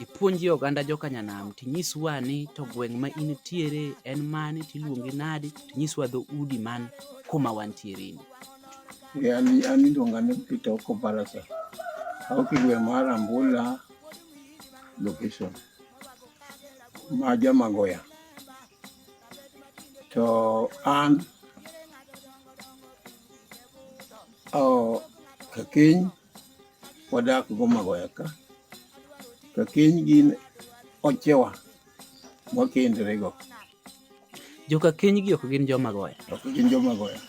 ipuonji oganda joka nyanam tinyiswa ni to gweng' ma in tiere en mane tiluongi nadi tinyiswa dho udi man kuma wantiere ni an iluonga ni Peter Okobalasa aok igwe mar Ambula location ma Jamagoya to an oh, Kakiny wadak go mago eka ka keny gin ochewa mwakendore go joka keny gi ok gin joma goya ok gin joma goya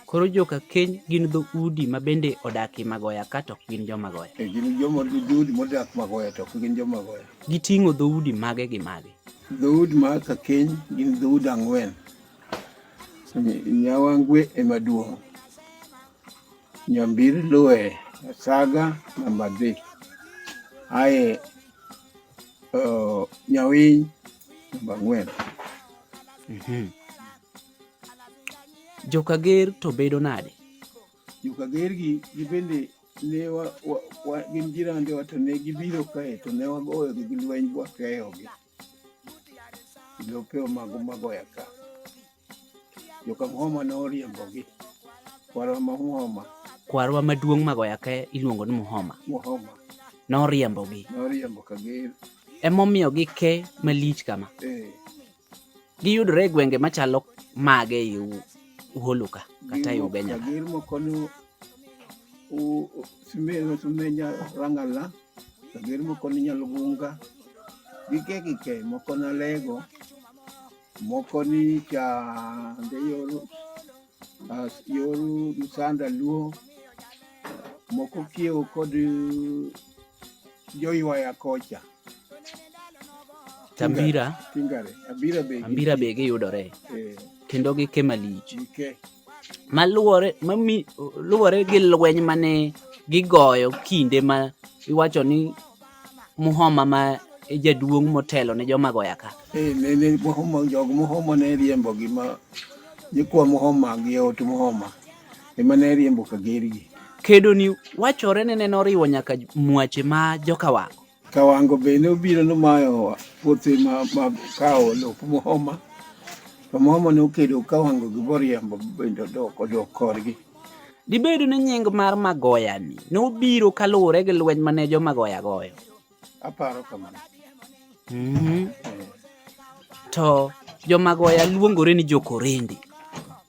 koro joka keny gin dho udi ma bende odaki magoya ka to ok gin joma goya e gin joma udi modak magoya to ok gin joma goya giting'o dho udi mage gi mage dho udi ma ka keny gin dho udi ang'wen nyawangwe ema duong' Nyambir Lue Saga namba dhi aye uh, Nyawiny namba ang'wen. Mhm. Jokager to bedo nade? Jokager gi gibende ne gin jirande wa to ne gibiro kae to ne wagoyogi gi lweny bwakeyogi. lope omago magoya ka. Jokamhoma noriembogi. Kwarwa ma Muhoma. Kwarwa maduong' magoya ka iluongo ni Muhoma. Muhoma. Noriembogi. Noriembo ka gir. Emomiyo gike malich kama. Eh. Giyudore e gwenge machalo mage e Uholu ka kata e Ugenya. Gir moko simeno sumenya rangala sageri moko ni nyalgunga gi ke gi ke moko na lego moko ni cha de yoru as yoru musanda luo moko kiew kod joywaya kocha tambira tingare abira be ambira be giyudore eh. kendo gike malich gike ma luwore ma luwore gi lweny mane gigoyo kinde ma iwacho ni muhoma ma e jaduong' motelo ne joma goya ka eh, jog muhoma ne riembo gima jikwa muhoma gi ot muhoma ema ne riembo kagergi kedo ni wachore ne neno riwo nyaka mwache ma jokawango Kawango bende obiro nomayo puothe mag kawo lop Muhoma. To Muhoma ne okedo Kawango gi Boriembo bende odok odok korgi. Dibed ni nying mar Magoya ni nobiro kaluwore gi lweny mane jo Magoya goyo? Aparo kamano. Mm-hmm. To jo Magoya luongore ni jo Korende.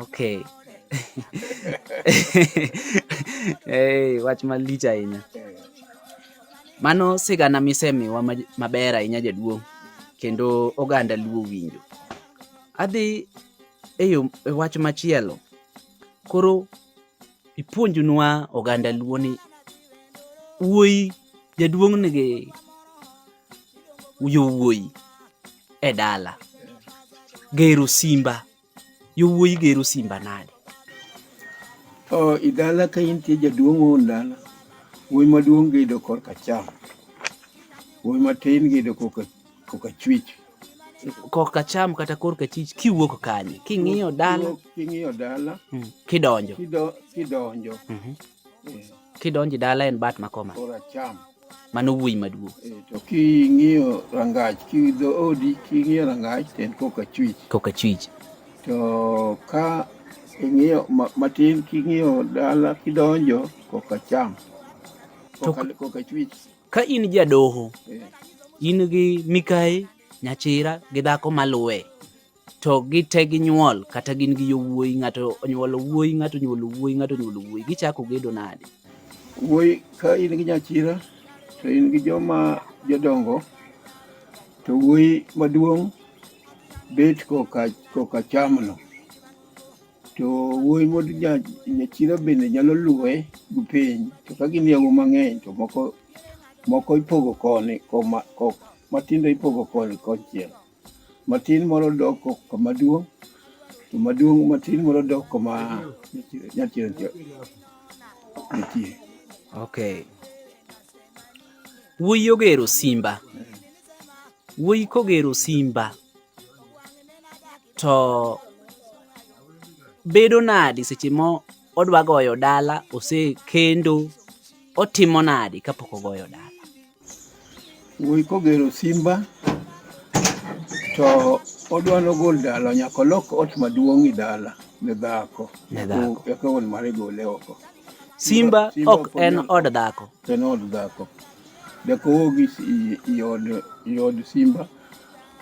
Okay. hey, wach malich ahinya. Mano sigana misemiwa maber ahinya jaduong' kendo oganda luo winjo. Adhi e yo e wach machielo. Koro ipuonjnwa oganda luo ni wuoyi jaduong' nigi yowuoyi e dala gero simba yowuoyi gero simba nade o idala ka intie jaduong' wuon dala wuoyi maduong' gedo korka cham wuoyi matin gedo koka koka chwich korka cham kata korka chich kiwuok kanye king'iyo dala king'iyo dala mm. kidonjo kidonjo mm -hmm. kidonjo dala en bat makoma koracham mano wuoyi maduong'. Eh, to king'iyo rangach, kidho odi, king'iyo rangach, to en koka chwich. Koka chwich. To ka ing'iyo matin, king'iyo dala, kidonjo, koka cham. Koka chwich. Ka in jadoho, eh. in gi mikayi, nyachira gi dhako maluwe, to gite ginyuol kata gin gi yowuoyi ng'ato onyuolo wuoyi ng'ato onyuolo wuoyi ng'ato onyuolo wuoyi gichako gedo nade wuoyi ka in gi nyachira to in gi joma jodongo to wuoyi maduong' bet koka koka chamno to wuoyi mod nyachira bende nyalo luwe gi piny to ka gin yawo mang'eny to moko moko ipogo koni koma matindo ipogo koni konchiel Matin moro dok kama duong', to maduong' matin moro dok kama nyachien nitie. Okay. Wuoyi ogero simba. Wuoyi kogero simba to bedo nadi seche mo odwa goyo dala osekendo otimo nadi kapok ogoyo dala. Wuoyi kogero simba to odwa nogol dala nyaka olok ot maduong' e dala ne dhako Ne dhako. eka wuon mare gole oko Simba Simba ok ok en onyal- od dhako. en od dhako deko wuogi i- i od i od simba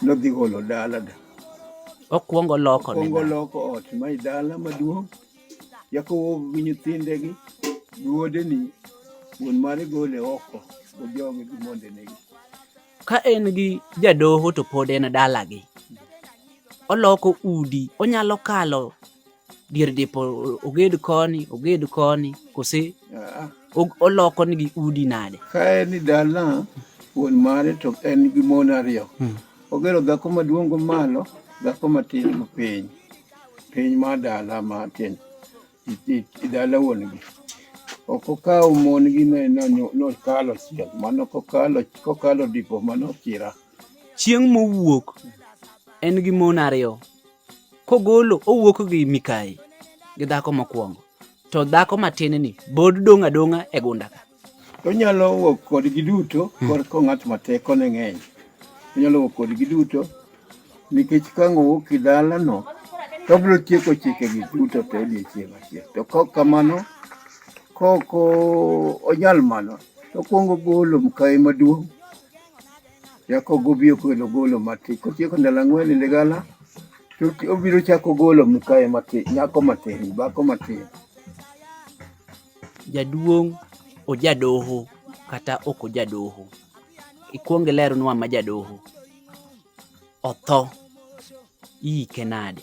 nodhi golo dala da Okwongo loko ne kongo dhako. loko ot ma i dala maduong' Jakobo gi nyithindegi gi wuodeni wuon mare gole oko ojogi gi mondenegi. Ka en gi jadoho to pod en dalagi. Oloko udi, onyalo kalo dier dipo oged koni, oged koni, kose ah. oloko nigi udi nade? Ka en ni dala wuon mare to en gi mon ariyo. Hmm. Ogero dhako maduong' malo, dhako matin piny. piny ma dala ma tin dala wuon gi ok okawo mon gi nokalo chiel mano kokalo dipo mano kira chieng' mowuok en gi mon ariyo kogolo owuok gi mikayi gi dhako mokwongo to dhako matin ni bod dong' adong'a e gunda ka Onyalo wuok kodgi duto hmm. korko ng'at ma teko ne ng'eny. Onyalo wuok kodgi duto nikech ka ng'owuok e dalano to obiro tieko chikegi duto to odiechieng' achiel. To kaok kamano, kaok onyal mano, to okuongo golo mkayi maduong' chako gobi okelo golo matin. Kotieko ndalo ang'wen e ligala, to obiro chako golo mkayi matin, nyako matin, dhako matin. Jaduong' ojadoho kata ok ojadoho. Ikwong ilernwa ma jadoho. Otho. Iike nade?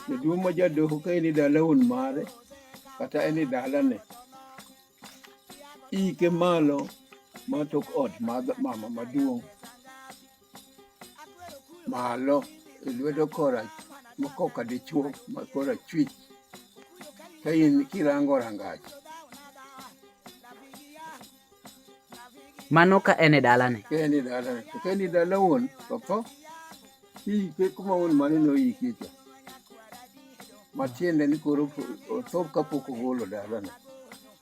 Jaduong' ma jadoho ka en e dala wuon mare kata en e dalane, iike malo ma tok ot mar mama maduong'. malo e lwedo kora makoka dichuo makora chwich ka in kirango rangach mano ka en e dalane ka en e dalane to ka en e dala wuon to tho kiike kuma wuon mane noyike cha matiende ni koro otho kapok ogolo dalane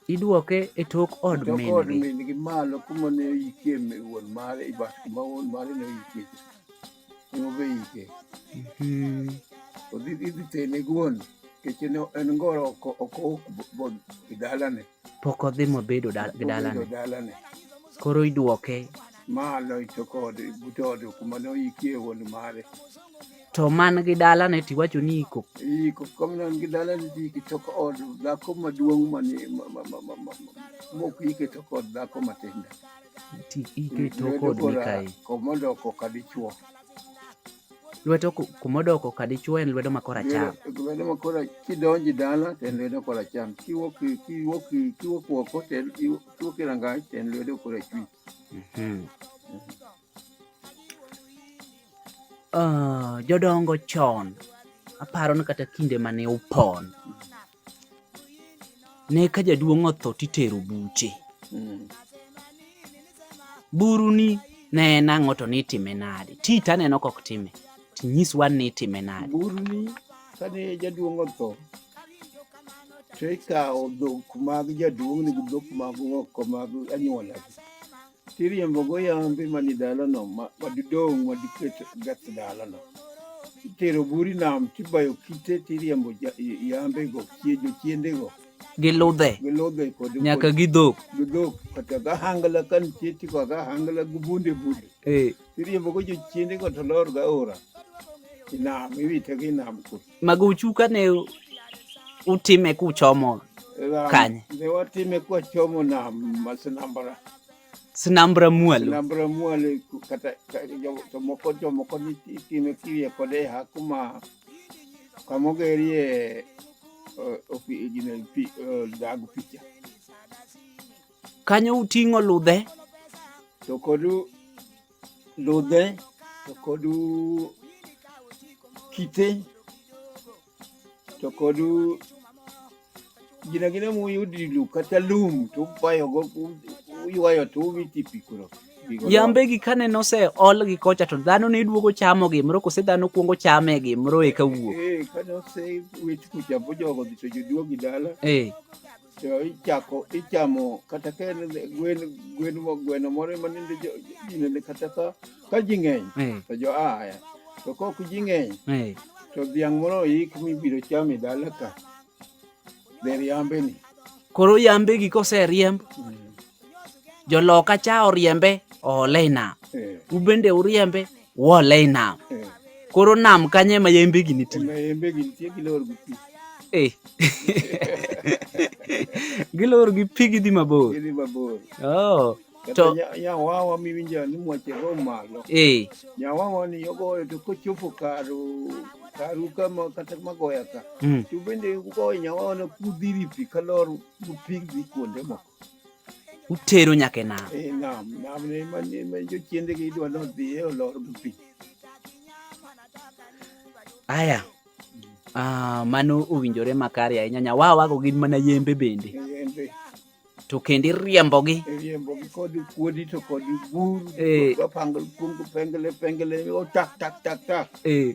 Idwoke e tok od Tok od min-gi. min-gi malo kuma ne oyikie mi- wuon mare i bat kuma wuon mare ne oyikie cha. Ema obe ike. Mhm. Odhi idhi tene guon nikech en en ngoro oko oko ok bo- bod e dalane. Pok odhi mobedo dal- gi Obedo dalane. dalane. Koro idwoke Malo i tok ode but ode kuma ne oyikie wuon mare. To man gi dala ne tiwacho ni iko. Iko kom nan gi dala ni iko to od dhako maduong' ma ni ma ma ma ma ma mok ike to kod dhako matinda. Ti ike to kod mikai. Komodo koka dichuo. Lwedo kumodo koka dichuo en lwedo makora cham. Lwedo makora kidonji dala to en lwedo kora cham. Kiwok kiwok kiwok oko to en kiwok rangai to en lwedo kora chwich. Mm -hmm. Uh, jodongo chon aparo ni kata kinde mane upon ne ka jaduong' otho titero buche mm. buru ni ne en ang'o to nitime nade ti taneno kok time tinyiswa ni itime nade buru ni kane jaduong' otho to ikawo dhok mag jaduong' ni gi dhok mag ng'oko mag anyuola tiriembo go yambe mani dalano madidong' madiket gath dalano itero buri nam tibayo kite tiriembo yambe go chiejo chiende go gi ludhe nyaka gi dhok gi dhok kata ga hangla kan chieti ko ga hangla gu bunde bunde eh tiriembo go jo chiende go to lor ga ora inam iwite gi nam kuno Maguchu kane utime kuchomo kanye? Ne watime kwachomo nam ma Sinambra. Sinambra Mwalo. Sinambra Mwalo kata jomoko jomoko itime kirie kode ha kuma kamogerie dag picha. Kanyo uting'o ludhe. To kodu Lodin, Tokodu Kite, Tokodu gina gina mu yudi lu kata lum to bayo go uywayo to ubiti pikuro. Yambe gi kane nose ol gi kocha to dhano ne duogo chamo gi mro kose dhano kuongo chame gi mro e kawuok. Eh, kane ose wit kucha bojogo dhicho joduogi dala. Eh. to ichako ichamo kata ka en gwen gwen gweno moro ema nende jinende kata ka ka ji ng'eny eh. to jo aya to kok ji ng'eny eh. to dhiang' moro oik mibiro chame dala ka dher yambeni koro yambegi koseriemb mm. Joloka cha oriembe oole i nam, eh. ubende uriembe uole i nam. Eh. Koro nam kanye ma yembe gi nitie? Ma yembe gi nitie gilor gi pi. Eh. gilor gi pi gidhi mabor. Gidhi mabor. Oh. To nyawawa miwinjo ni mwache go malo. Eh. Nyawawa ni yogoyo to kochopo karo karuka ma kata magoya ka mm. to bende ugoyo nyawaona kudhiri pi kalor upigdhi kuonde moko utero nyaka e nam eh, nam nam ne ma ne ma jo chiende gi idwa no dhi e olor gi pi aya ah mano owinjore makare ahinya nya wa wago gin mana yembe bende yembe to kendo iriembogi iriembogi kod kuodi to kod buru eh. pangl pengele pengele o oh, tak tak tak tak eh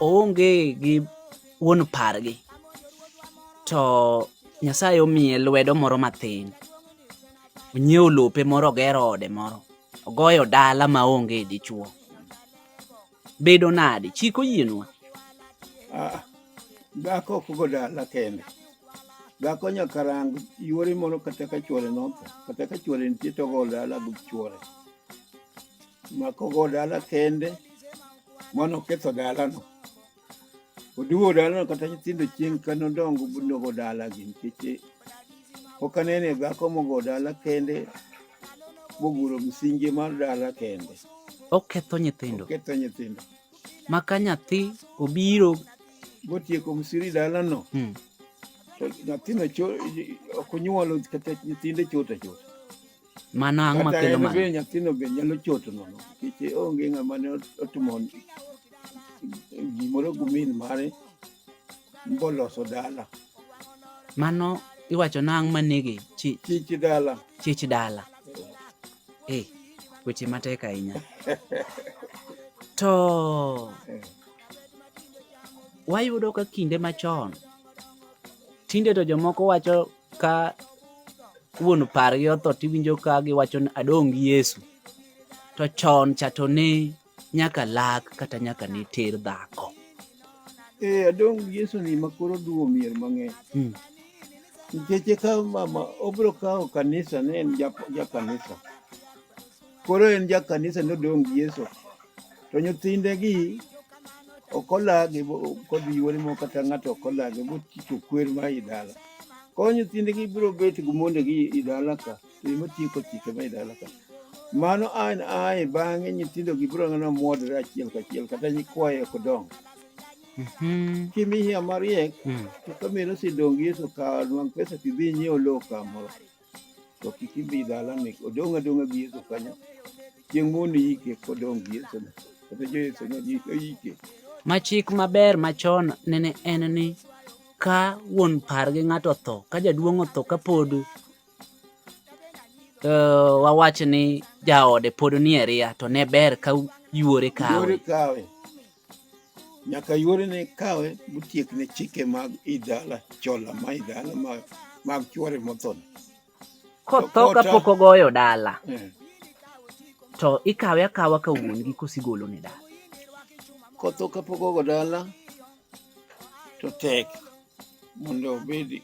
oonge gi wuon pargi to Nyasaye omiye lwedo moro mathin onyiewo lope moro ogero ode moro ogoyo dala ma onge dichuo bedo nade chik oyienwa ah, dhako ok go dala kende dhako nyaka rang yuore moro kata ka chuore notho kata ka chuore nitie to ogo dala gi chuore maka ogo dala kende mano ketho dalano. Oduogo dalano kata nyithindo chieng' ka nodongo nogo dalagi nikech eh, pok anene dhako mogo dala kende moguro msingi mar dala kende. Oketho nyithindo. Oketho nyithindo. Ma ka nyathi obiro. Motieko msiri dalano. Hmm. To nyathino ok onyuolo kata nyithinde chot achot. Mano ang' ma kelo mano. Kata nyathino be nyalo choto nono nikech onge ng'ama ne otimo gimoro gi min mare mboloso dala. Mano iwacho nang' ma nege chich dala. Chich dala. Eh, weche matek ahinya. To eh. wayudo ka kinde machon tinde to jomoko wacho ka wuon pargi otho tiwinjo ka giwacho ni adong' gi Yesu. To chon cha to ne nyaka lak kata nyaka ne ter dhako. Eh, adong' gi Yesu ni ma koro duwo mier mang'eny. Mm. Nikech eka mama obiro kawo kanisa ne en ja- ja kanisa. Koro en ja kanisa nodong' gi Yesu. To nyithinde gi ok olagi kodhi yuore mo kata ng'ato ok olagi bochicho kwer ma i dala. Koro nyithinde gi biro bet gi monde gi i dala ka to ema tieko chike ma i dala ka. Mano an ae bang'e nyithindo gi biro ng'ana mwodre achiel kachiel kata nyikwaye ok dong'. Mhm. Kimiya mariek Mm. to kamero sidong' gi Yesu ka nwang' pesa kidhi inyiew lowo kamoro. to kik idhi dalani odong' adong'a gi Yesu kanyo chieng' mondo iyike kodong' gi Yesu kata jo Yesu oyike ma chik maber machon nene en ni ka wuon par gi ng'ato otho ka jaduong' otho ka pod uh, wawach ni jaode pod nie ria to ne ber ka yuore kawe nyaka yuore ne kawe motiek ne chike mag idala chola ma idala mag, mag chuore mothon kotho kapok ogoyo dala eh. to ikawe akawa ka wuon gi kosigolo ne dala kotho kapok ogo dala to tek mondo obedi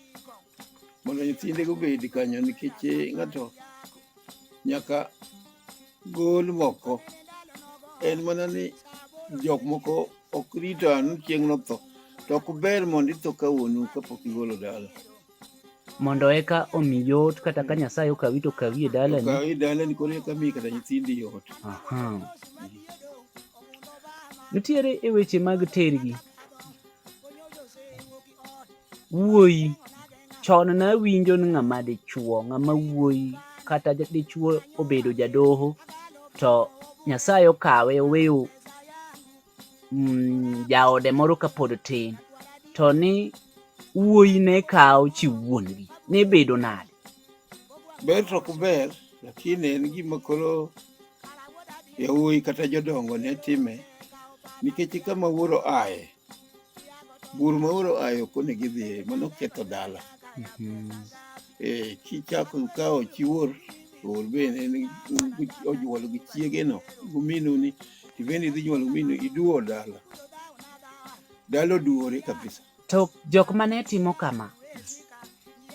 mondo nyithinde gobedi kanyo nikech eh, ng'ato nyaka Gol moko. En mana ni jok moko ok rito anu chieng' notho. To ok ber mondo itho ka wuonu kapok igolo dala. Mondo eka omi yot kata ka Nyasaye okawi to okawi e dalani. Okawi e dalani koro eka mi kata nyithindi yot. Aha. Nitiere e weche mag tergi. wuoyi chon ne awinjo ni ng'ama dichuo ng'ama wuoyi kata dichuo obedo jadoho to nyasaye okawe oweyo mm, jaode moro kapod tin to ni wuoyi ne kawo chi wuongi ne bedo nade ber to kuber lakini en gima koro yawuoyi kata jodongo ne time nikech kama wuoro aye bur ma oro ayo koni gidhiye mano ketho dala Mhm. Eh, kichako kawo chi wuor to wuor bende en gi- onyuolo gi chiegeno guminu ni ibende idhi nyuolo guminu iduwo dala dala oduwore kabisa to jok mane timo kama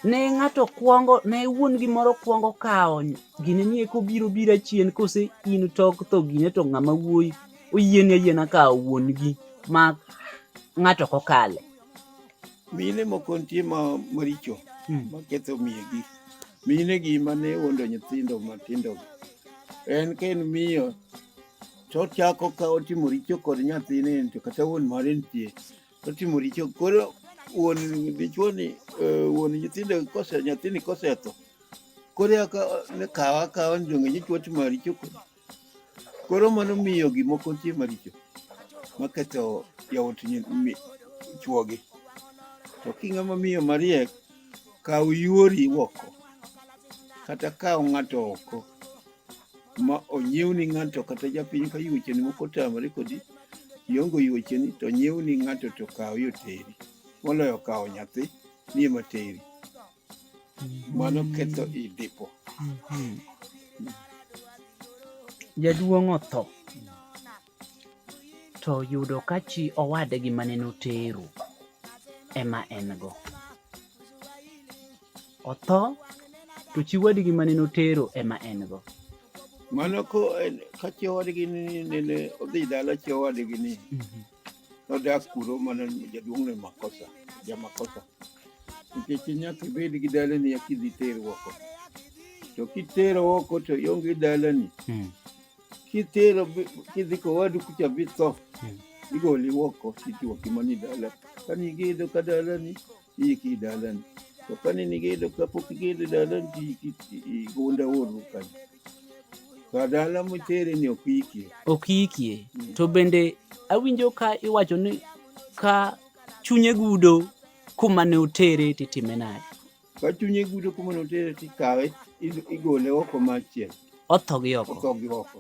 ne ng'ato kwongo ne wuon gimoro kwongo kawo gine ni eko biro bira chien kose in tok tho gine to ng'ama wuoyi oyieni ayiena ka wuon gi ma ng'ato ok okale. Mine moko nitie ma maricho hmm. ma ketho miyegi. Mine gi ma ne wuondo nyithindo matindo. En ka en miyo to ochako ka otimo richo kod nyathine to kata wuon mare nitie to otimo richo koro wuon dichuo ni eh, wuon nyithindo kose nyathini kosetho koro eka kawa kawa ni donge nyichuo otimo richo kodi Koro mano miyo gik moko nitie maricho maketho jaot chwogi. To king'ama miyo mariek, kaw yuori oko kata kaw ng'ato oko ma onyiew ni ng'ato kata japiny ka yuocheni moko otamore kodi iongo yuocheni to onyiew ni ng'ato to kaw yoteri moloyo kaw nyathi ni ema teri. Mano ketho i dipo. Mhm. Jaduong' otho to yudo ka chi owadgi mane notero ema en go. Otho to chi wadgi mane notero ema en go. Mano ko en- ka chi owadgi ni nene odhi dala chi owadgi ni Mhm. Nodak kuro mana jaduong' ne makosa, jamakosa. Nikech nyaka ibed gi dalani eka idhi ter oko. To kitero oko to ionge dalani. Mm. Kitero bi- kidhi kowadu kucha bitho. Mm. Igoli oko tichuoki mani dala. Kani giidho ka dalani İyi ki idalan. Kapani ni gelo kapo ki gelo idalan ki ki gonda oru kan. Kadala mo tere ni okikie. Okikie. Mm. To bende awinjo ka iwacho ni ka chunye gudo kuma ne otere titime nade? Ka chunye gudo kuma ne otere tikawe igole oko machiel. Otho gi oko. Otho gi oko.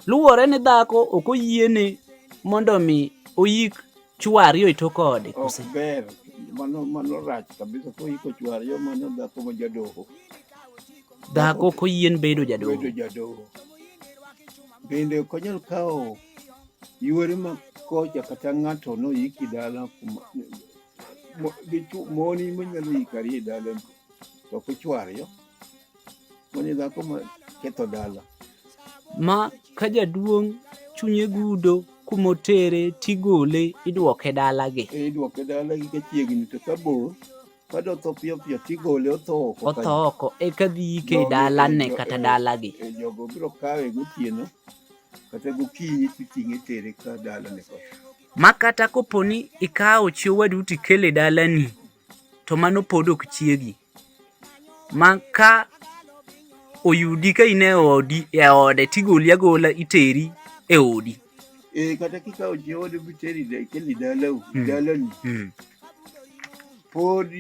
Luwore ni dhako ok oyiene mondo mi oyik chwari oito kode kose. Ok ber. Mano mano rach kabisa ko iko chwari yo mano dhako ma jadoho. Dhako ko yien bedo jadoho. Bedo jadoho. Bende ok onyal kawo yuore ma kocha kata ng'ato no yiki dala kuma moni manyalo yikari e dala to ok ochwar yo. Mwenye dhako ma ketho dala. Ma ka jaduong' chunye gudo kumotere tigole idwoke dalagi. E, idwoke dalagi ka chiegni to ka bor kado tho piyo piyo tigole otho oko. Otho oko eka dhi yike e dalane kata e, dalagi. E, jogo biro kawe gotieno kata gokinyi titing'e tere ka dalane kocha. Ma kata koponi ikawo chi owadu tikele dalani to mano pod ok chiegi. ma ka oyudi ka in e odi e ode tigoli agola iteri e odi eh kata kikawo jaode miteri keli dalau hmm. dalani hmm. pod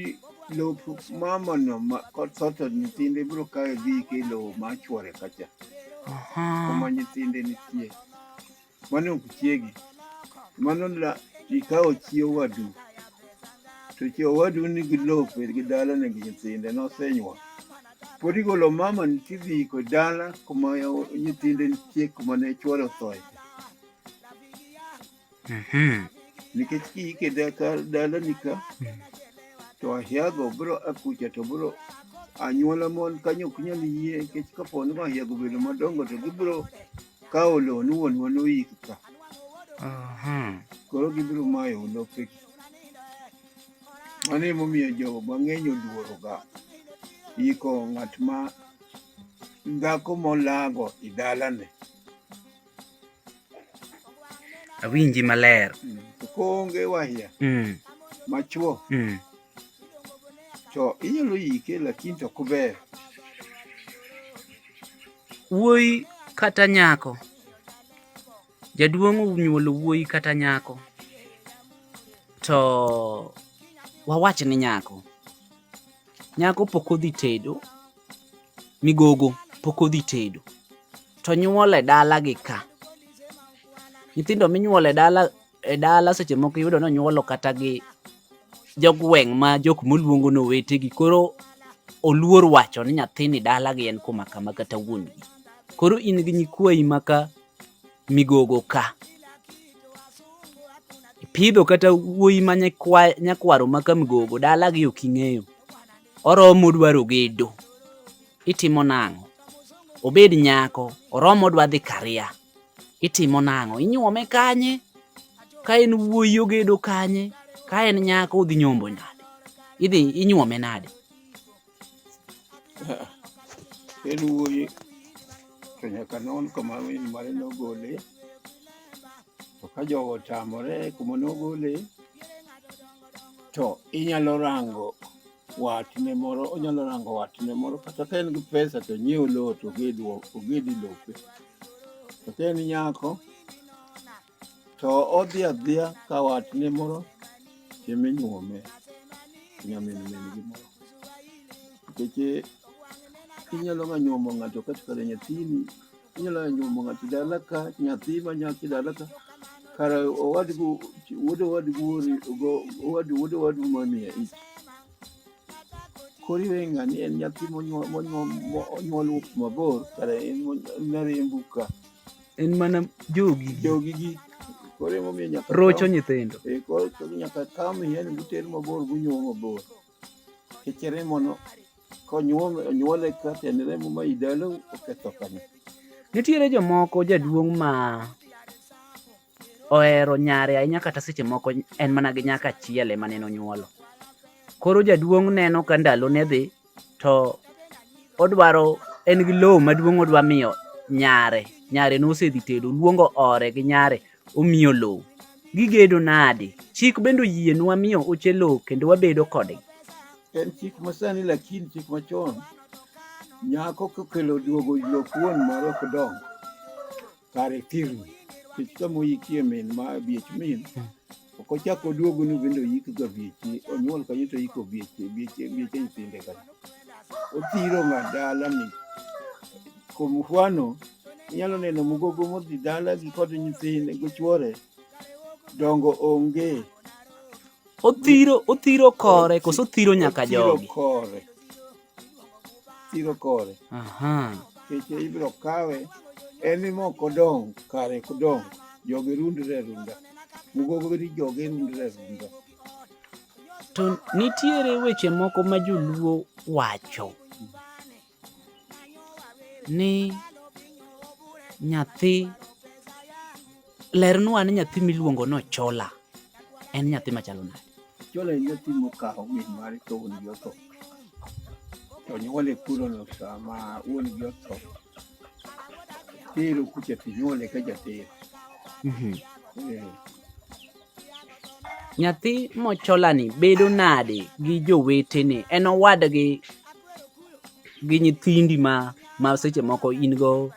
lop mamano kod soto nyithinde biro kawe dhi ke lowo ma chwore kacha kuma nyithinde nitie Mano ok chiegi. Mano la ikawo chi owadu. To chi owadu nigi lope gi dalane gi nyithinde nosenyuol. Pod igolo mama ni tidhi iko dala kuma nyithinde nitie kuma ne chwore othoe. Mhm. Nikech kiike daka dalani ka to ahiago biro akucha to biro anyuola mon kanyo ok nyal yie nikech kapo ni ahiago bedo madongo to gibiro Ka olonu wuonwa noyik ka. Aha. Koro gibiro mayo lopegi. Mano emomiyo jo mang'eny oluoroga yiko ng'at ma dhako molago i dalane. Awinji maler. Mm. To koonge wahia mm. machuo mm. to inyalo yike lakini to ok ber. Wuoyi kata nyako. Jaduong' onyuolo wuoyi kata nyako. To wawach ni nyako. Nyako pok odhi tedo, migogo pok odhi tedo. To nyuole dala gi ka. Nyithindo minyuole dala e dala seche moko iyudo ni onyuolo kata gi jogweng' ma jok moluongo ni owetegi koro oluor wacho ni nyathini dalagi en kuma kama kata wuon gi koro in gi nyikwayi maka migogo ka ipidho kata wuoyi ma nyakwaro maka migogo dalagi ok ing'eyo oromo dwaro gedo itimo nang'o obed nyako oromo dwa dhi karia itimo nang'o inyuome kanye ka en wuoyi ogedo kanye ka en nyako odhi nyombo nade idhi inyuome nade en wuoyi to nyaka non kama min mare nogole to ka jogo otamore kuma nogole to inyalo rango watne moro onyalo rango watne moro kata ka en gi pesa to nyiew lowo to ogedi lope to ka en nyako to odhi adhiya ka watne moro chiemo inyuome nyamin min gi moro nikech inyalo ga nyuomo ng'ato kata kare nyathini Inyalo nyuomo ng'ato dala ka, nyathi ma nyaki dala ka. Kara owadgu, wuod owadgu ori, ogo, owadgu, wuod owadgu ma miya ich. Kori we ng'ani en nyathi monyuol, monyuol, monyuol mabor, kara en mariembu ka. En mana jogi. Jogi gi. Koro emomiyo nyaka. Rocho nyithindo. Eh, koro nyaka kami, yani guter mabor, gunyuomo mabor. Kecere mono konyuole ka tiend remo ma idalo oketho kama. Nitiere jomoko jaduong' ma ohero nyare ahinya kata seche moko en mana gi nyaka achiel ema neno nyuolo. Koro jaduong' neno ka ndalo ne dhi to odwaro en gi lowo maduong' odwa miyo nyare nyare nosedhi tedo luongo ore gi nyare Omiyo lowo gigedo nadi? Chik bende oyienwa miyo oche lowo kendo wabedo kodgi. En chik masani lakini chik machon nyako kokelo duogo lop wuon moro ok dongo kare thirni kech sama oyikie min ma biech min ok ochak oduogo ni bende oyik ga bieche onyuol kanyo to oyiko bieche bieche bieche nyithinde ka othiro ng'a dala ni kwa mfano inyalo neno mugogo modhi dala gi kod nyithinde gi chuore dongo onge othiro othiro kore koso othiro nyaka jogi kore chiro kore keche ibiro kawe en ni mok odong kare kodong jogi rundre e runda mugogori jogi rundre e runda to nitiere weche moko ma joluo wacho ni nyathi Lernwa ni nyathi miluongo no Chola en nyathi machalo nade? Chola en nyathi mokawo min mare to wuon gi otho. To nyuole kulono sama wuon gi otho. Tero kucha to nyuole ka jatero. Mhm. Eh, Nyathi mocholani bedo nade gi jowetene? En owadgi gi nyithindi ma ma seche moko in go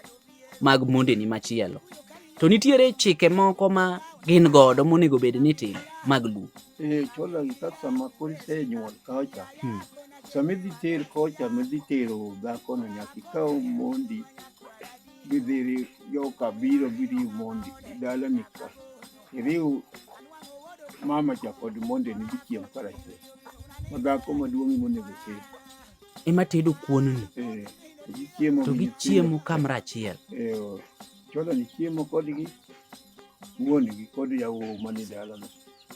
mag mondeni machielo to nitiere chike moko ma gin godo monego bed ni tim mag luo eh, chologi kaka sama koro isenyuol kacha hmm. sama idhi ter kocha midhi tero dhakono nyaka ikaw mondi gidhiri joka biro biri mondi dalani ka Iriw mama cha kod monde ni gichiem karachiel. Ma dhako maduong' monego oted. Ema tedo kuon ni. Eh. Gichiemo to gichiemo kamra achiel. Eh. Oh. Chola ni chiemo kodgi. Wuon gi kod yawo mani dalano.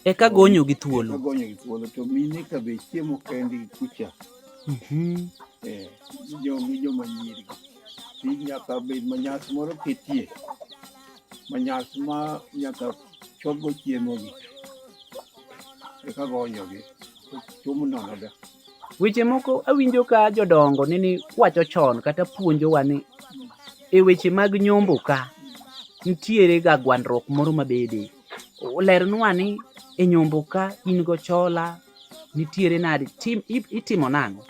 Eka gonyo gi thuolo. Eka gonyo gi thuolo to mine ka be chiemo kendgi kucha. Mhm. Eh. Jo gi jo manyiri. Nyaka bed manyas moro ketie. manyas ma nyaka chopgo chiemogi eka gonyogi tumo nonoga weche moko awinjo ka jodongo nini wacho chon kata puonjowa ni e weche mag nyombo ka nitiere ga gwandruok moro mabede olernwa ni e nyombo ka in go chola nitiere nadi itimo nang'o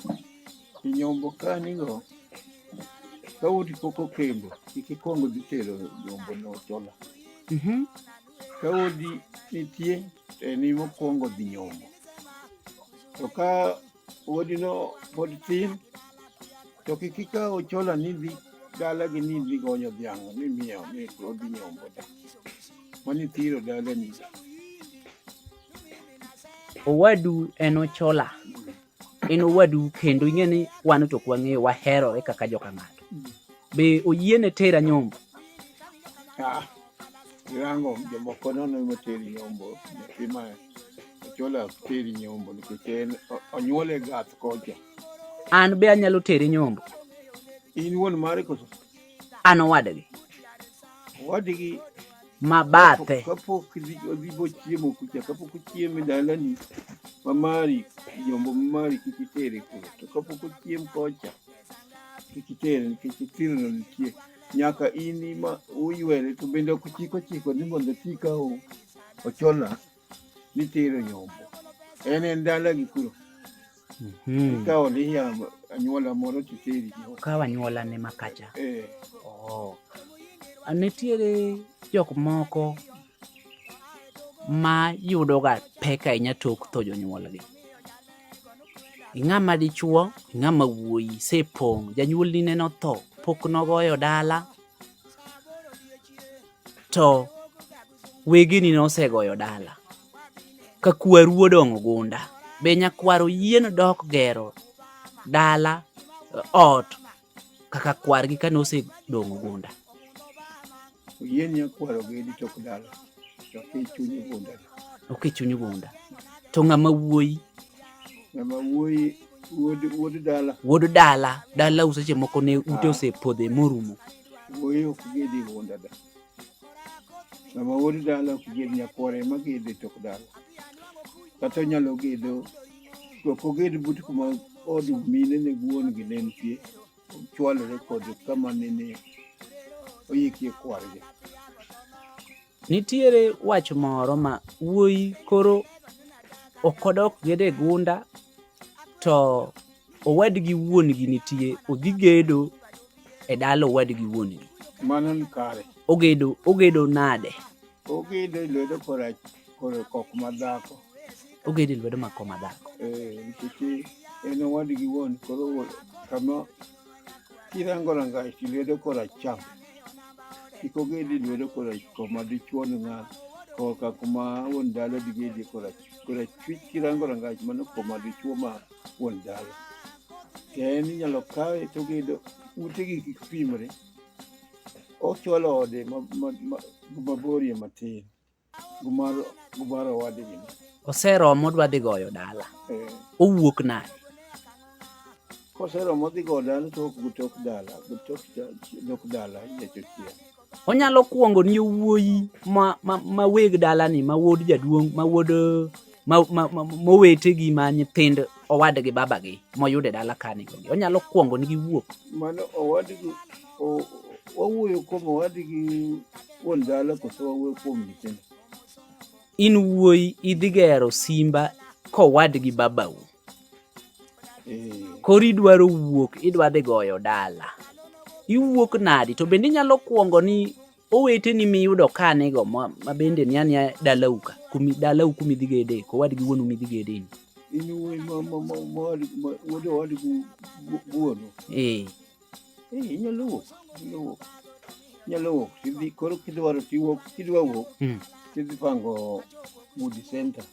Inyombo ka nigo ka uti poko kembo ikikwongo dhi tero nyombo no tola. Mhm. Ka odi nitie to en imo kwongo dhi nyombo. To ka odi no pod tin to kik ikaw chola ni dhi dala gi ni dhi gonyo dhiang' ni miyo ni odhi nyombo da. Mani thiro dala ni. Owadu en ochola. en owadu kendo ing'e ni wan to kwang'eyo waherore kaka joka ng'ato be oyiene tera nyombo ah, irango jomoko nono moteri nyombo nyathi ma ochola teri nyombo nikech en onyuole gath kocha an be anyalo tere nyombo in wuon mare koso an owadgi owadgi mabathe kapok odhi bochiemo kucha kapok ochiemo e dalani mamari jombo mamari kik itere kuro to kapok ochiem kocha kik itere nikech thirno nitie nyaka in ma uywere to bende ok chik ochiko ni mondo ti ka ochona nitero nyombo en en dalagi kuro Mhm. ikawo niya anyuola moro titeri nyombo Kaw anyuola ne makacha. Eh, Oh. A, Nitiere jok moko ma yudoga pek ahinya tok tho jonyuolgi. Ing'ama dichuo, ing'ama wuoyi, sepong', janyuolni neno tho, pok nogoyo dala, to wegeni nosegoyo dala ka kwaru odong'o gunda be nyakwaro yien dok gero dala ot kaka kwargi kane osedong'o gunda yien nyakwaro gedi tok dala to kichunyi gunda ok ichunyi gunda to ng'ama wuoyi ng'ama wuoyi wuod dala wuod dala dala useche moko ne ute ah. osepodhe morumo wuoyi ok gedi gunda da sama woni dala ok ged nyakware ma gede tok dala kata onyalo gedo to ok oged but kuma od mine ne wuon gi ne nitie chwalore kod kama nene oyikie kwargi nitiere wach moro ma wuoyi koro okodok gede gunda to owadgi wuon-gi nitie odhi gedo e dala owadgi wuon-gi mano ni kare ogedo ogedo nade ogedo e lwedo kora kore kok madhako ogedo e lwedo mako madhako eh nikech en owadgi wuon koro kama kirango rangach lwedo kora cham kik ogedi lwedo kora koma dichuo ni ng'al koka kuma wuon dala digedi kora kora chwich kirango rangach mano koma dichuo ma wuon dala. Kendo inyalo kawe to ogedo utegi kik pimre. Ochwalo ode maborie matin gumar owadgi. Oseromo odwa dhi goyo dala. Eh. Owuok nade? Koseromo dhi goyo dala to ok gutok dala, gutok dala nyiech ochieng'. onyalo kwongo ni wuoyi ma, ma, ma weg dalani ma wuod jaduong' ma wuod mowete gi ma nyithind owadgi babagi moyude dala kani onge onyalo kwongo nigi wuok mano owadgi wawuoyo kuom owadgi wuon dala koso wawuoyo kuom nyithindo in wuoyi idhi gero simba kowadgi babau Eh. Koro idwaro wuok, idwa dhi goyo dala. Iwuok nadi? To bende inyalo kwongo ni oweteni miyudo ka nigo ma bende ni ania dalau ka, kumi dalau kumi dhi gede, kowadgi wuonu midhi gede ni. In wuod owadgi wuonu. Eh. Eh, inyalo wuok, inyalo wuok. Inyalo wuok, tidhi koro kidwaro tiwuok, kidwa wuok, Mm. tidhi pango Moody Center.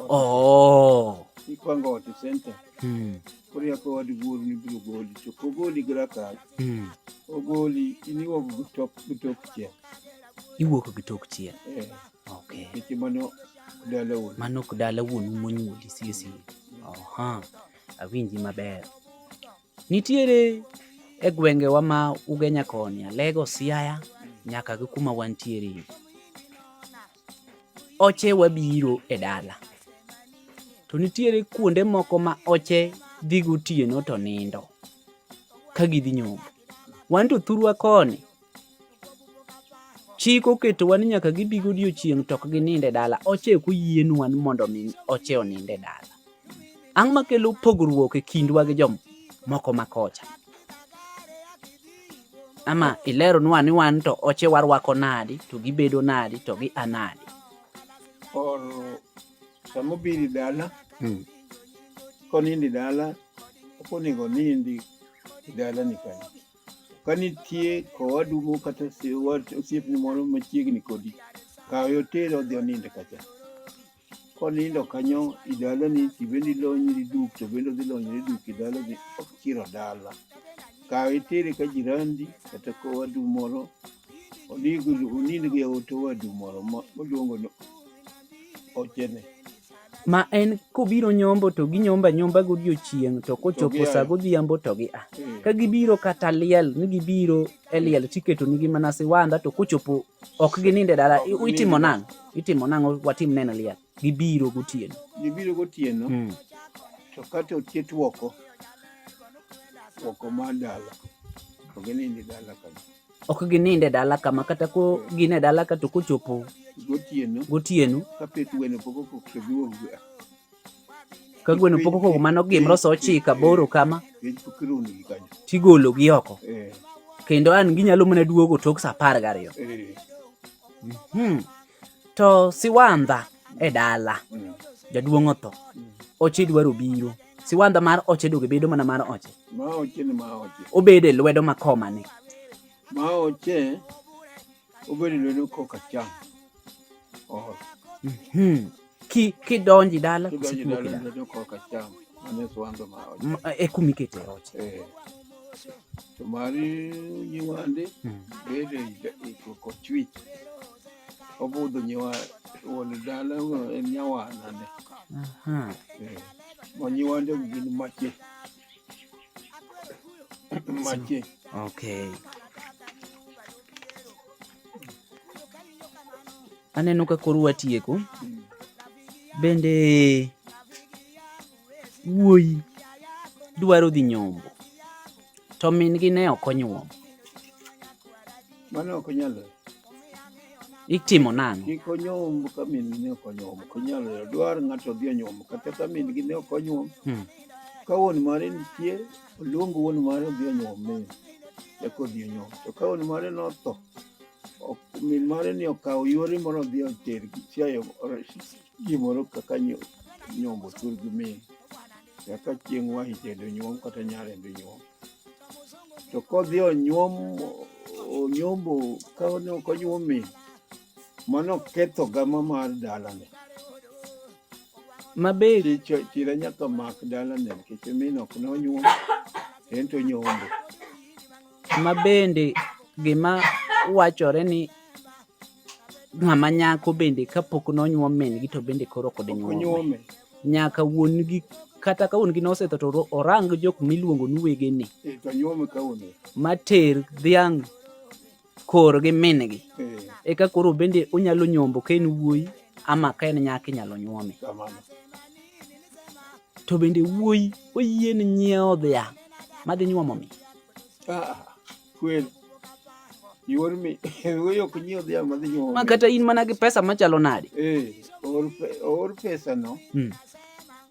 Oh. Ipango ot e center. Mm. Koro yako wad wuoru ni biro goli, to kogoli gi rakal, Mm. ogoli in iwuok gi tok gi tok chiel. Iwuok gi tok chiel. Eh, Okay. nikech mano dala wuon. Mano ok dala wuonu monyuoli sie sie. Oha. Awinji maber. Nitiere e gwengewa ma Ugenya koni, Alego, Siaya nyaka gi kuma wantiere. Oche wabiro e dala. To nitiere kuonde moko ma oche dhi gotieno to nindo ka gidhi nyombo. Wan to thurwa koni Chik oketowa ni nyaka gibi godiechieng' to ok gininde dala. Oche ok oyienwa ni mondo omi oche oninde dala. Ang'o makelo pogruok e kindwa gi jomoko ma kocha? Ama ileronwa ni wan to oche warwako nadi, to gibedo nadi, to gi anadi. Or sama obiri dala, hmm. konindi dala, ok onego onindi dalani kanyo. Ka nitie owadu moro kata osiepni moro machiegni kodi, kawe otere odhi onind kacha. Konindo kanyo i dalani to in bende ilonyri duk to bende odhi lonyre duk i dalani, ok chiro dala. Kawe itere ka jirandi kata ka owadu moro onindgo e ot owadu moro moluongo ni ochene. ma en kobiro nyombo to ginyomba nyomba godiechieng' to kochopo sa godhiambo to gi a hmm. ka gibiro kata liel ni gibiro e liel tiketo nigi mana siwanda to kochopo ok gininde dala itimo nang' itimo nang' watim neno liel gibiro gotieno gibiro gotieno hmm. to kata oket woko woko mar dala to gininde dala kanyo ok ginind e dala kama kata ko gin e dala ka to kochopo gotieno ka gweno pok okoko mano gimro sa ochiko aboro kama tigologi oko eh. kendo an ginyalo mana duogo tok sa apar gariyo eh. hmm. to siwandha e dala hmm. jaduong' otho hmm. oche dwaro biro siwandha mar oche doge bedo mana mar oche maoche ni maoche obedo e lwedo ma komane maoche obedo e lwedo koka cham oh. mm-hmm. ki kidonji dala kidonji dala e lwedo koka cham mane swando maoche e kumi kete oche eh. to mari nyiwande hmm. bedo e koko chwich obudho nyiwa wuon dala en nyawanane eh. Manyiwandegu gin mache. Mache. Okay. Aneno ka koro watieko. Bende wuoyi dwaro dhi nyombo. To min-gi ne ok onyuom. Mano ok nyalo. Itimo nang'o? Kik onyuom ka min-gi ne ok onyuom. Ok nyalo. Dwar ng'ato odhi onyuom. Kata ka min-gi ne ok onyuom. Hmm. Ka wuon mare nitie, oluong wuon mare odhi onyuom min. Eka odhi onyuom. To ka wuon mare notho, min mare ni okawo yore moro odhi oter chiayo Ji moro kaka nyo- nyombo tur gi min, kaka chieng' wahi tedo nyuom kata nyare be nyuom. To kodhi onyuom onyombo ka ne ok onyuom min, mano ketho gama mar dalane. Ma be Chi cho- chira nyaka mak dalane nikech min ok ne onyuom, en to onyombo. ma bende gima wachore ni ng'ama nyako bende kapok nonyuom min-gi to bende koro ok dinyuome nyaka wuon-gi kata ka wuon-gi nosetho to orang jok miluongo ni wegene eh, mater dhiang' kor gi min-gi eh. eka koro bende onyalo nyombo ka en wuoyi ama ka en nyaka inyalo nyuome to bende wuoyi oyie ni nyiewo dhiang' madhi nyuomo mi ah, ah. Kweli. Ior mi wewe ok nyiew dhiang' madhi nyuol. Ma kata in mana gi pesa machalo nade? Eh, or or pesa no. Mm.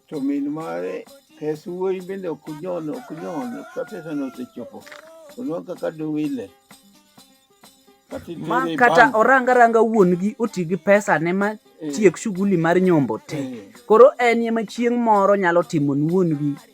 To min mare pes wuoyi bende ok nyon ok nyon ka pesa no osechopo. Ono kaka duwile. Ma kata oranga ranga wuon gi oti gi pesa ne ma eh. tiek shughuli mar nyombo te. Eh. Koro en ema chieng' moro nyalo timo wuon gi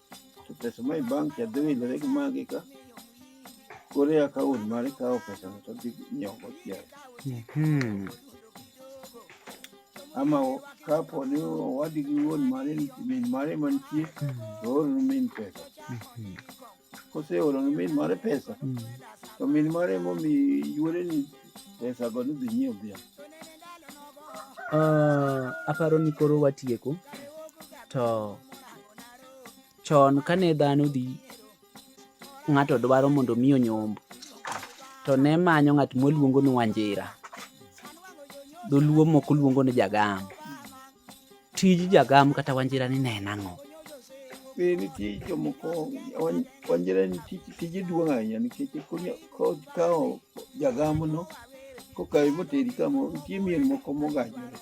Pesa ma i bank ya dhi widore gi magi ka kore akaun mar ikawo pesa no to dhi nyiewo go chiayo Mhm. ama o- kapo ni owadgi gi wuon mare ni- min mare mantie to ooroni min pesa Mhm. koseoroni min mare pesa Mhm. to min mare momi yuore ni pesa go ni dhi nyiewo dhiang' Ah, aparo ni koro watieko to chon kane dhano dhi ng'ato dwaro mondo mi onyomb to ne manyo ng'at moluongo ni wanjira dholuo moko luongo ni jagam tij jagam kata wanjira ni ne en ang'o eh, nitie jomoko wanjira ni tije duong' ahinya nikech kawo jagamono kokawe moteri kamo nitie mier moko mogajore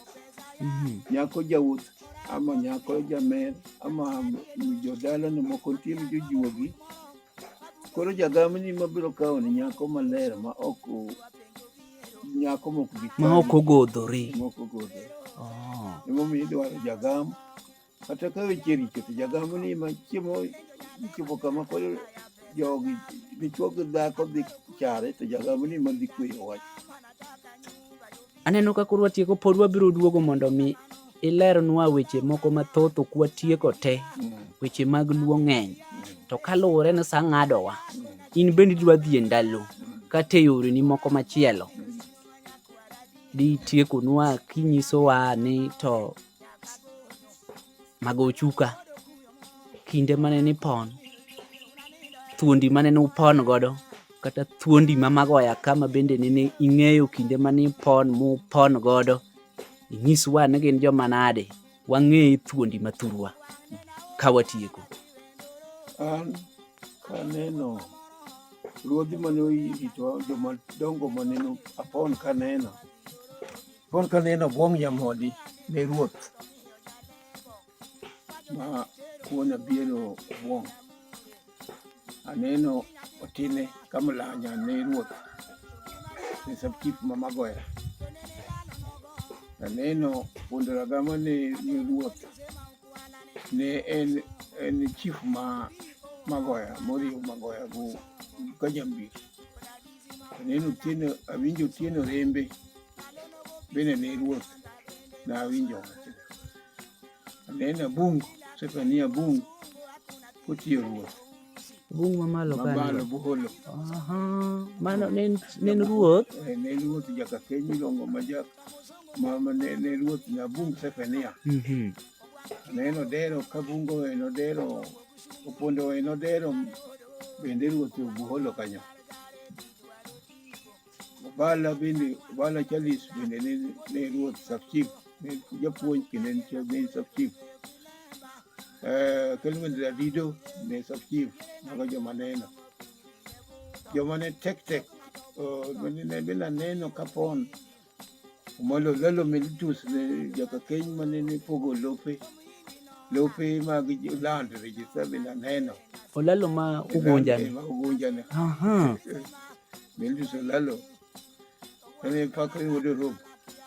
mhm. nyako jawuoth ama nyako jamer ama jodalane moko nitie ni jojuogi koro jagamni mabiro kawo ni nyako maler ma ok nyako mok bi ma ok ogodhore mok ogodhore oh. emomiyo idwaro jagam kata ka weche richo to jagam ni ma chiemo ichopo kama koro jogi dichwo gi dhako dhi chare to jagam ni ma dhi kweyo wach Aneno ka koro watieko pod wabiro duogo mondo mi ilernwa weche moko mathoth ok watieko te weche mag luo ng'eny to kaluwore ni sa ng'adowa in bende idwa dhi e ndalo kata e yoreni moko machielo ditiekonwa kinyisowa ni to mago chuka kinde mane nipon thuondi mane nupon godo kata thuondi ma mago ya kama bende nene ing'eyo kinde mane ipon mupon godo inyiswa ni gin joma nade wang'e thuondi mathurwa ka watieko an kaneno ruodhi mane orito joma dongo mane apon kaneno apon kaneno bwong' nyamodi ne ruoth ma kuona biero obuong'. Aneno otine ka mlanya ne ruoth ne sabchief ma Magoya. Aneno Fundo Ragama ne ne ruoth ne en en chief ma Magoya moriwo Magoya go ka jambiri. Aneno Otieno awinjo Otieno Rembe bende ne ruoth nawinjo wachno. Ameenda bungu, sasa ni ya bungu kutiyo ruoth bungu mamalo mamalo buholo mano nen ruoth eh, ne ruoth jaka keny miluongo ma jak mama ne ne ruoth nya bungu Sefania mhm. ne nodero ka bungo we nodero opondo we nodero bende ruoth obuholo kanyo Obala bende Obala Charles bende ne, ne ruoth Sakchik ne japuonj kendo en cha- ne en Sakchik. Eh, Kelvin Radido ne Sakchik mago joma neno. Joma ne tek tek oh, bende ne bila neno kapon Omolo Lalo Melitus ne jaka keny mane ne pogo lope lope mag jo- land register bila neno. Olalo ma Ugunja ni. Ugunja ne. Aha. Milli Solalo. Kani paka yudo rope.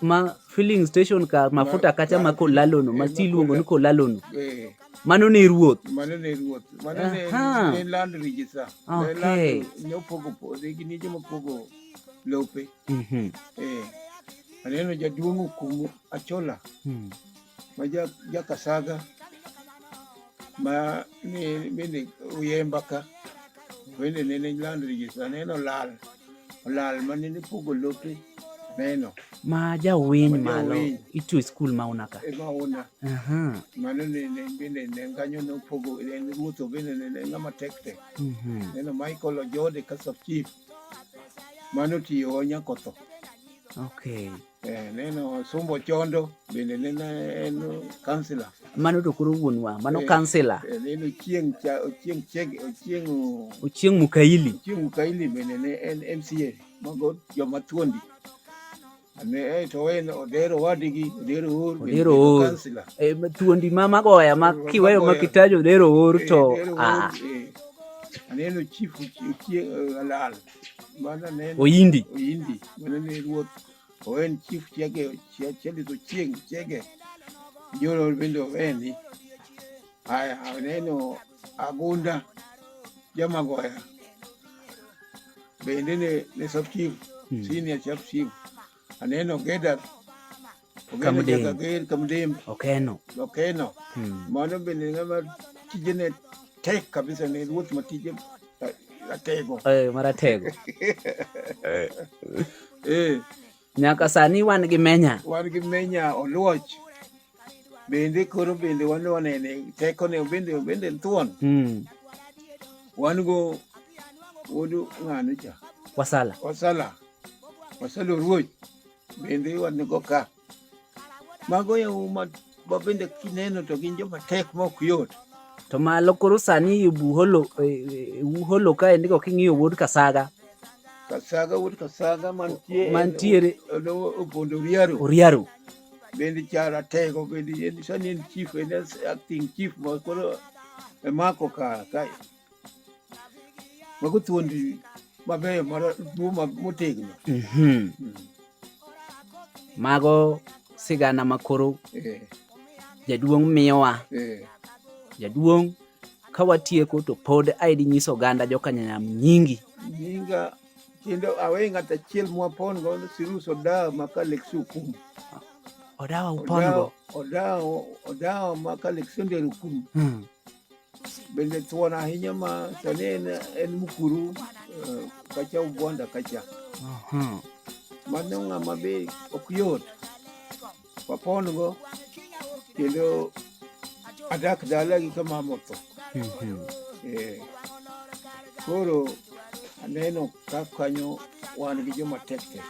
ma filling station ka mafuta kacha ma kolalono ma ti iluongo ni kolalono Eh, mano ne ruoth mano ne ruoth. Mano ne Aha. ne land register. Ne Okay. land- Ne opogo puodho gi nije mopogo lope. Mhm. Eh. Aneno jaduong' okumu Achola. Mhm. ma ja ja kasaga ma ni bende uyemba ka bende nene lando rejista neno lal olal ma nene pogo lope neno ma jawiny Ma malo jawiny. ito e skul ma una ka e mauna Aha, mano nene bende ne kanyo nopogo en ruoth bende nene ng'ama tek tek mhm. neno Michael Ojode ka sub chief mano tiyo nyakotho okay Eh, neno Sumbo Chondo bende neno en kansila. Mano to koro wuonwa, mano eh, kansila. Eh, neno Chieng' Chieng' Chieng' Chieng' Ochieng' Mukaili. Ochieng' Mukaili bende ne en MCA mago joma thuondi. Ne eh, to en Odero wadigi, Odero Or. Odero Or. Eh, thuondi ma magoya ma kiweyo ma kitajo Odero Or to ah. Aneno chief Chieng' Alal. Mana ne en Oyindi. Oyindi. Mana ne ruoth. O en chief chiege, chia- chiege to chieng' chiege. Joro bende o en ni. Aya, aneno Agunda Jamagoya. Bende ne, ne sub chief, senior sub chief. Aneno Geda Kamdem. Kager Kamdem. Okeno. Okeno. Hmm. Mano bende ng'ama tijene tek kabisa ne ruoth ma tije ratego. Eh, maratego. Eh. eh. Nyaka sani wan gi menya. Wan gi menya oluoch. bende koro bende wan wanene teko ne bende bende thuon mm. wan go wuod ng'ano cha wasala wasala wasala ruoch bende wan go ka mago yau ma bende kineno to gin joma tek ma ok yot to malo koro sani buholo e, e, uholo ka endiko king'iyo wuod kasaga kasaga wuod kasaga mantiere mantiere opondo oriaro oriaro bendi chara tego bendi en sani en chief en acting chief ma koro emako ka ka mago thuondi mabeyo maduo motegno mhm. hmm. mago sigana ma koro eh. jaduong' miyowa eh. jaduong' ka watieko to pod aidi nyiso oganda jokanyanyam nyingi nyinga kendo awe ng'at achiel mwapon go Sirus Odawa ma Kaleksu Okumu. Odawa upon go? Odawa, Odawa ma Kaleksu Ndere Okumu. Hmm. Bende thuon ahinya ma sani en, en Mukuru uh, kacha Ugwanda kacha. Uh -huh. Mano ng'ama be ok yot. wapondgo kendo adak dalagi ka mama otho mhm. eh, koro aneno ka kanyo wan gi joma tek tek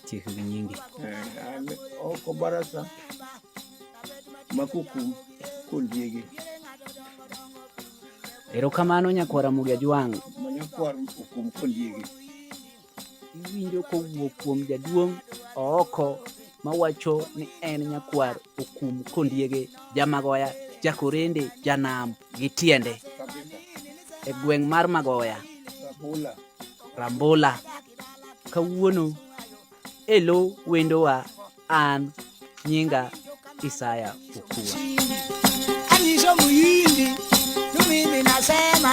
chikgi nyingi eh, oko barasa makukum kondiegi erokamano nyakwara mugi ajwang' manyakwar okum kondiegi iwinjo kowuok kuom jaduong' ooko mawacho ni en nyakwar okum kondiege jamagoya jakorende janam gi tiende e gweng' mar magoya rambula kawuono elo wendowa an nyinga isaya okua anyiso muyindi tumimi nasema